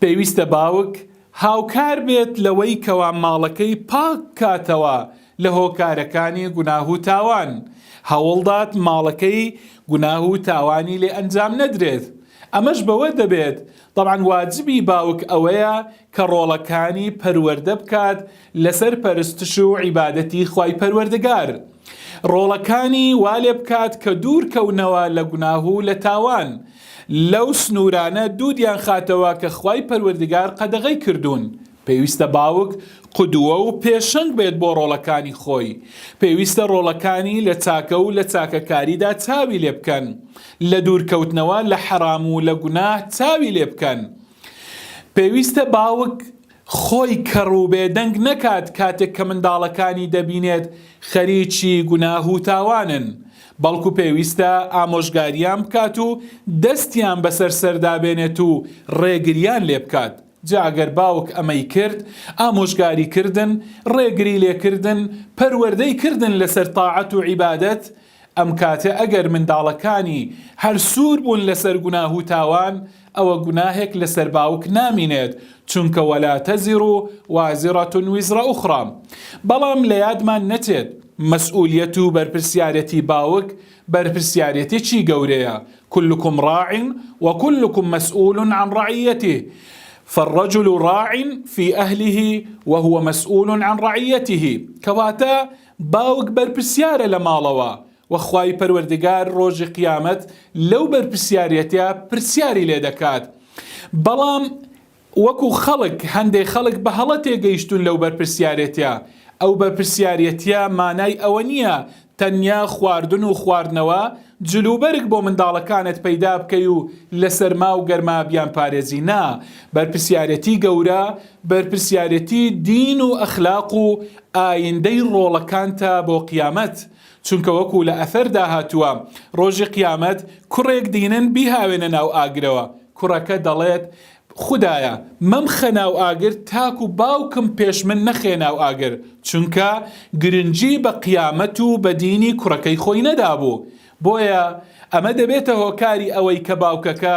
پێویستە باوک هاوکار بێت لەوەی کەوا ماڵەکەی پاک بکاتەوە لە هۆکارەکانی گوناه و تاوان، هەوڵدات ماڵەکەی گوناه و تاوانی لێ ئەنجام نەدرێت، ئەمەش بەوە دەبێت تەبعەن واجبی باوک ئەوەیە کە ڕۆڵەکانی پەروەردە بکات لەسەر پەرستش و عیبادەتی خوای پەروەردگار، ڕۆڵەکانی وا لێ بکات کە دوور کەونەوە لە گوناه و لە تاوان، لەو سنوورانە دوودیان خاتەوە کە خوای پەروەردگار قەدەغەی کردوون، پێویستە باوک قدوە و پێشەنگ بێت بۆ ڕۆڵەکانی خۆی، پێویستە ڕۆڵەکانی لە چاکە و لە چاکەکاریدا چاوی لێ بکەن، لە دوورکەوتنەوە لە حەرام و لە گوناه چاوی لێ بکەن، پێویستە باوک خۆی کەڕ و بێدەنگ نەکات کاتێک کە منداڵەکانی دەبینێت خەریکی گوناه و تاوانن، بەڵکو پێویستە ئامۆژگاریان بکات و دەستیان بەسەر سەردا بێنێت و ڕێگریان لێبکات، جا ئەگەر باوک ئەمەی کرد، ئامۆژگاری کردن، ڕێگری لێکردن، پەروەردەی کردن لەسەر تاعەت و عیبادەت، ئەم کاتە ئەگەر منداڵەکانی هەر سوور بوون لەسەر گوناه و تاوان ئەوە گوناهێک لەسەر باوک نامینێت چونکە ولا تزر وازرە وزر اخری بەڵام لە یادمان نەچێت مەسئولیەت و بەرپرسیارێتی باوک بەرپرسیارێتێکی گەورەیە کلکم راع وکلکم مسئول عن رعیته فالرجل راع في أهله وهو مسئول عن رعیته کەواتە باوک بەرپرسیارە لە ماڵەوە و خوای پەروەردگار ڕۆژی قیامەت لەو بەرپرسیاریەتە پرسیاری لێ دەکات بەڵام وەکو خەڵک هەندێ خەڵک بە هەڵە تێگەیشتون لەو بەرپرسیارێتە ئەو بەرپرسیاریەتە مانای ئەوە نیە تەنیا خواردن و خواردنەوە جلوبەرگ بۆ منداڵەکانت پەیدا بکەی و لە سەرما و گەرما بیان پارێزی نا بەرپرسیارێتی گەورە بەرپرسیارێتی دین و ئەخلاق و ئایندەی ڕۆڵەکانتە بۆ قیامەت، چونکە وەکو لە ئەثەردا هاتووە، ڕۆژی قیامەت کوڕێک دینن بیهاوێنە ناو ئاگرەوە، کوڕەکە دەڵێت، خودایە مەمخە ناو ئاگر تاکو باوکم پێش من نەخەیە ناو ئاگر، چونکە گرنگی بە قیامەت و بە دینی کوڕەکەی خۆی نەدابوو، بۆیە ئەمە دەبێتە هۆکاری ئەوەی کە باوکەکە